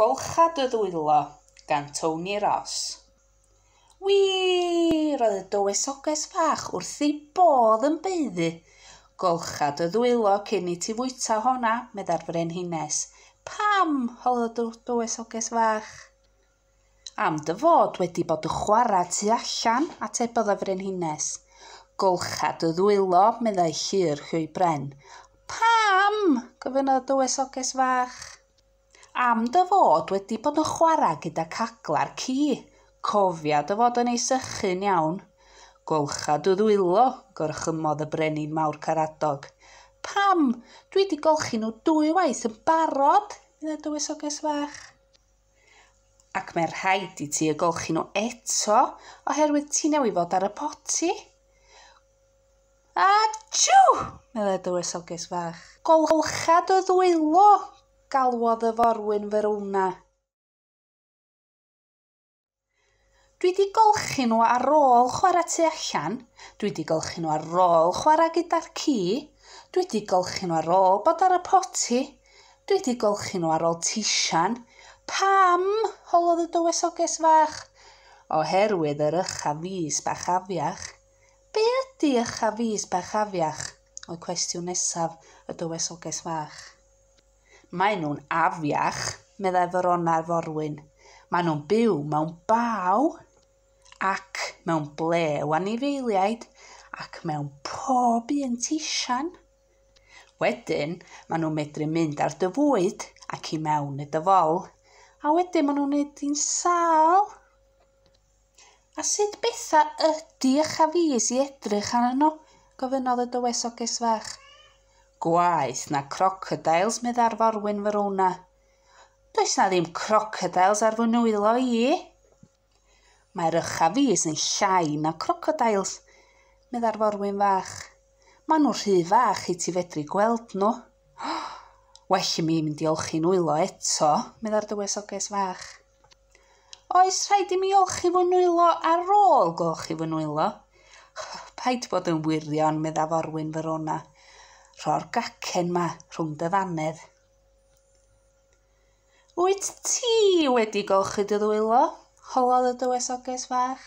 Golcha dy ddwylo, gan Tony Ross. Wî! roedd y dywysoges fach wrth ei bodd yn baeddu. Golcha dy ddwylo cyn i ti fwyta honna, meddai'r frenhines. Pam? holodd y dywysoges fach. Am dy fod wedi bod yn chwarae tu allan, atebodd y Frenhines. Golcha dy ddwylo, meddai Llŷr Huw Bren. Pam? gofynnodd y dywysoges fach. Am dy fod wedi bod yn chwarae gyda caglar ci. Cofia dy fod yn ei sychu'n iawn. Golcha dy ddwylo, gorchymmodd y Brenin Mawr Caradog. Pam? Dwi wedi golchi nhw dwy waith yn barod, meddai dywysoges fach. Ac mae rhaid i ti y golchi nhw eto oherwydd ti newydd fod ar y poti. Achw! meddai dywysoges fach. Golcha dy ddwylo! galwodd y forwyn Verona. Dwi 'di golchi nhw ar ôl chwarae tu allan, dwi 'di golchi nhw ar ôl chwarae gyda'r ci, dwi 'di golchi nhw ar ôl bod ar y poti, dwi 'di golchi nhw ar ôl tisian. Pam? holodd y dywysoges fach. Oherwydd yr ycha fis bach afiach. Be ydy ycha fis bach afiach? oedd cwestiwn nesaf y dywysoges fach. Maen nhw'n afiach, meddai Ferona'r forwyn. Maen nhw'n byw mewn baw ac mewn ble o anifeiliaid ac mewn pob un tisian. Wedyn, maen nhw'n medru mynd ar dy fwyd ac i mewn i dy fol, a wedyn maen nhw'n wneud di'n sâl. A sut bethau ydy eich afis i edrych arno? gofynnodd y dywysoges fach. Gwaeth na crocodeils, meddai'r forwyn Verona. Does na ddim crocodeils ar fy nwylo i. Mae'r uchafis yn llai na crocodeils, meddai'r forwyn fach. Maen nhw rhy fach i ti fedru gweld nhw. Well i mi mynd i olchi'n nwylo eto, meddai'r dywysoges fach. Oes rhaid i mi olchi fy nwylo ar ôl golchi fy nwylo? Paid bod yn wirion, medda forwyn Verona. Rho'r gacen ma rhwng dy ddannedd. Wyt ti wedi golchi dy ddwylo? Holodd y dywysoges fach.